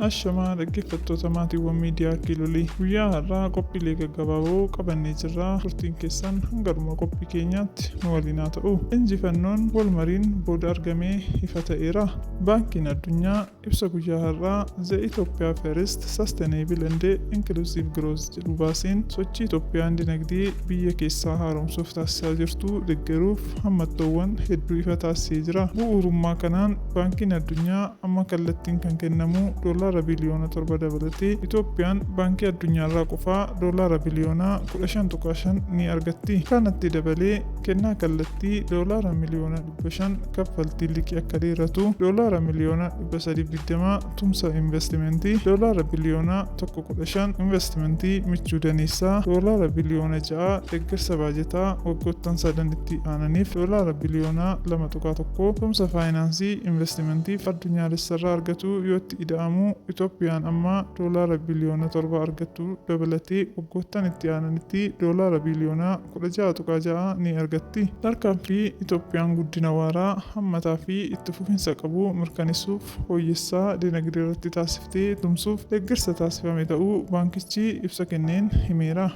Ashamaa dhaggeeffattoota maatiiwwan miidiyaa Kiilolii guyyaa har'aa qophiilee gaggabaaboo qabannee jirra. Turtiin keessan hanga dhuma qophii keenyaatti nu waliin haa ta'u. Injifannoon wal mariin booda argamee ifa ta'eera. Baankiin Addunyaa Ibsa guyyaa har'aa The Ethiopia First Sustainable and Inclusive Growth jedhu baaseen sochii Itoophiyaan dinagdee biyya keessaa haaromsuuf taasisaa jirtu deggeruuf hammattoowwan hedduu ifa taasisee jira. Bu'uurummaa kanaan Baankiin Addunyaa amma kallattiin kan kennamu doolaara biliyoona torba dabalatee Itoophiyaan Baankii Addunyaarraa qofaa doolaara biliyoona kudha shan tuqaa shan ni argatti. Kanatti dabalee kennaa kallattii doolaara miliyoona. 5 kaffaltiin liqii akka dheeratu doolaara miliyoona 320 tumsa investimentii doolaara biliyoona 115 investimentii michuu daneessaa doolaara biliyoona 6 deeggarsa baajataa waggoottan sadan itti aananiif doolaara biliyoona 2.1 tumsa faayinaansii investimentiif addunyaalessarraa argatuu yootti ida'amu Itoophiyaan amma doolaara biliyoona 7 argattu dabalatee waggoottan itti aananitti doolaara biliyoona 16.6 ni argatti. Tarkaanfii Itoophiyaan guddina waaraa, hammataa fi itti fufinsa qabu mirkanessuuf fooyyessaa dinagdee irratti taasifte tumsuuf deggersa taasifame ta'uu baankichi ibsa kenneen himeera.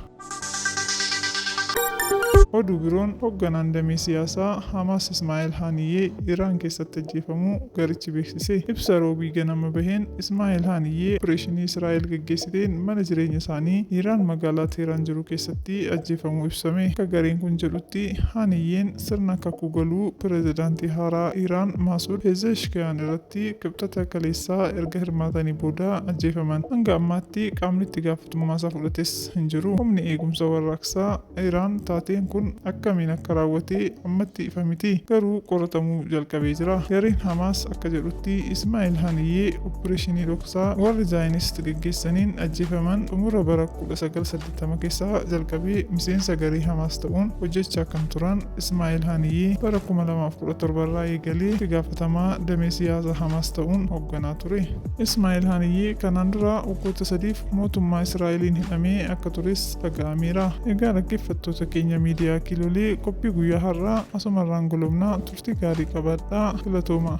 Oduu biroon Hogganaan damee siyaasaa Hamaas Ismaa'el Haaniyyee Iraan keessatti ajjeefamuu garichi beeksise. Ibsa Roobii ganama baheen Ismaa'el Haaniyyee opereeshinii Israa'el gaggeessiteen mana jireenya isaanii Iraan magaalaa Teeraan jiru keessatti tti ajjeefamuu ibsame. Akka gareen kun jedhutti, Haaniyyeen sirna kakuu galuu pirezidaantii haaraa Iraan Maasuud Peezeeshkiyaan irratti Kibxata kaleessaa erga hirmaatanii booda ajjeefaman. Hanga ammaatti qaamni itti gaafatummaasaa fudhates hin jiru. Humni Eegumsa Warraaqsaa Iraan taateen kun akkamiin akka raawwate ammatti ifa miti. Garuu qoratamuu jalqabee jira. Gareen Hamaas akka jedhutti, Ismaa'il Haaniyyee oppireeshinii dhoksaa warri Zaayinist geggeessaniin ajjeefaman xumura bara kudha sagal saddeettamootaa. tama keessa jalqabee miseensa garee Hamaas ta'uun hojjechaa kan turan Ismaa'eel Haniyee bara 2017 irraa eegalee itti gaafatamaa damee siyaasa Hamaas ta'uun hoogganaa ture. Ismaa'eel Haniyee kanaan dura waggoota sadiif mootummaa Israa'eliin hidhamee akka tures dhaga'ameera. Egaa dhaggeeffattoota keenya miidiyaa Kiilolee qophii guyyaa har'aa asumarraan golobna turtii gaarii qabaadhaa. Galatooma.